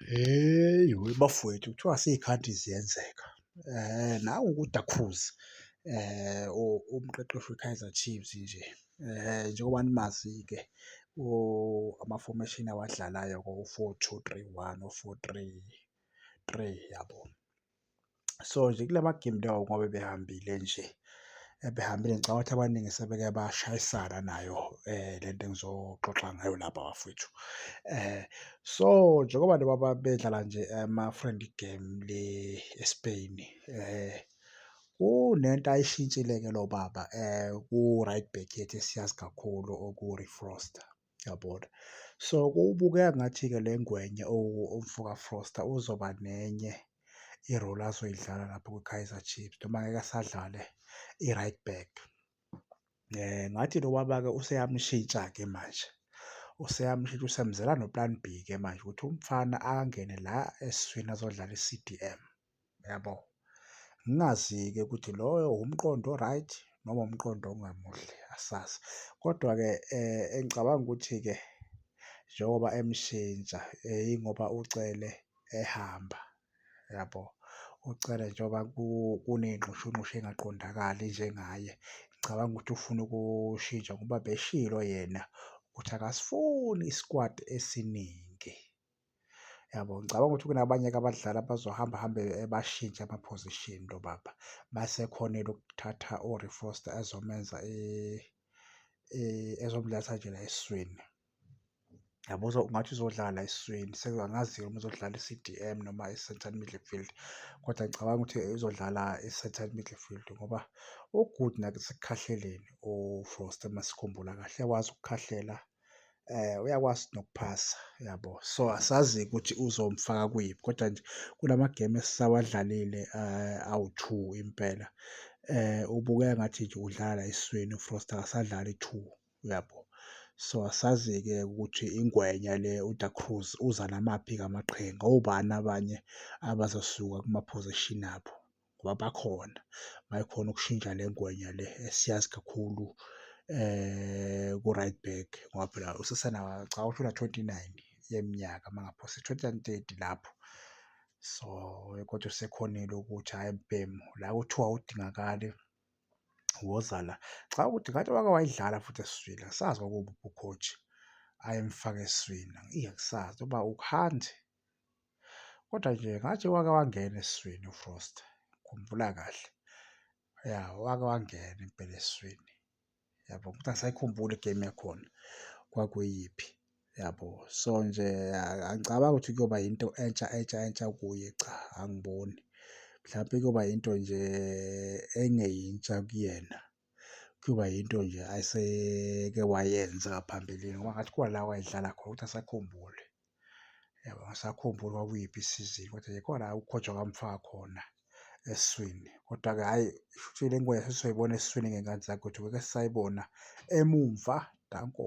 Hheyi we bafowethu kuthiwa sey'khathi ziyenzeka nangu ukudakhuza umqeqeshi we-Kaizer Chiefs nje njengoba nimazi-ke ama-formation awadlalayo ko-four two three one no-four three three yabo. so nje kula magemu lawo ngoba behambile nje ebehambile ngicabanga ukuthi abaningi sebeke bashayisana nayo eh lento engizoxoxa ngayo lapha bafethu eh so njengoba nabo babedlala nje ama friendly game le eSpain eh kunento ayishintshile ke lo baba eh ku right back yethu esiyazi kakhulu oku Refroster yabona. So kubukeka ngathi-ke le ngwenya umfoka Froster uzoba nenye i-role azoyidlala lapho kwiKaizer Chiefs noma ngeke asadlale i-right back. Ngathi lo baba-ke useyamshintsha-ke manje, useyamshintsha usemzela no-plan B-ke manje ukuthi umfana angene la esiswini azodlala i-C_D_M. Uyabo? Ngingazi-ke ukuthi loyo wumqondo o-right noma umqondo ongamuhle asazi. Kodwa-ke engicabanga ukuthi-ke njengoba emshintsha yingoba uCele ehamba, uyabo? UCele njengoba kuney'nxushunxushu ey'ngaqondakali njengaye, ngicabanga ukuthi ufuna ukushintsha ngoba beshilo yena ukuthi akasifuni isikwati esiningi. Yabo ngicabanga ukuthi kunabanye-ke abadlali abazohamba hambe bashintshe ama-position lo baba. Mase ekhonile ukuthatha uRee Foster ezomenza ezomletha nje la esiswini. Yabo ungathi uzodlala la esiswini angazi-ke noma uzodlala i-C_D_M noma i-central midfield kodwa ngicabanga ukuthi uzodlala i-central midfield ngoba u-good nasekukhahleleni uFoster uma sikhumbula kahle uyakwazi ukukhahlela. um uyakwazi nokuphasa yabo so asazi ukuthi uzomfaka kuyiphi kodwa nje kula magemu esisawadlalile um awu-two impela um ubukeka ngathi nje udlala esiswini uFrost akasadlali two uyabo so asazi-ke ukuthi ingwenya le uDa Cruz uza namaphi-ke amaqhinga obani abanye abazosuka kumaphozishini abo. ngoba bakhona mayikhona ukushintsha le ngwenya le esiyazi kakhulu eh ku right back ngoba phela usesena cha ushona 29 yeminyaka mangaphose 2030 lapho so kodwa usekhonile ukuthi hayi mbhemu la kuthiwa udingakali woza la cha ukuthi ngathi wake wayidlala futhi esizwile sazi kwakuwubukhoji ayemfaka eswini iyakusazi uba ukuhandi Kodwa nje ngathi wake wangena esiswini uFrost, ngikhumbula kahle. Ya, wake wangena impela esiswini, yabo, kodwa angisayikhumbuli igemu yakhona kwakuyiphi, yabo. So nje angicabangi ukuthi kuyoba yinto entsha entsha entsha kuye, cha, angiboni. Mhlampe kuyoba yinto nje engeyintsha kuyena. Kuyoba yinto nje aseke wayenza ngaphambilini ngoba ngathi khona la wayedlala khona ukuthi asakhumbule. Yabo angisakhumbuli kwakuyiphi isizini kodwa nje khona la uKhotshwa bamfaka khona esiswini. Kodwa-ke hhayi shuthi le ngoba sesizoyibona esiswini ngey'ngane zakhe ukuthi ngeke sisayibona emumva. Danko.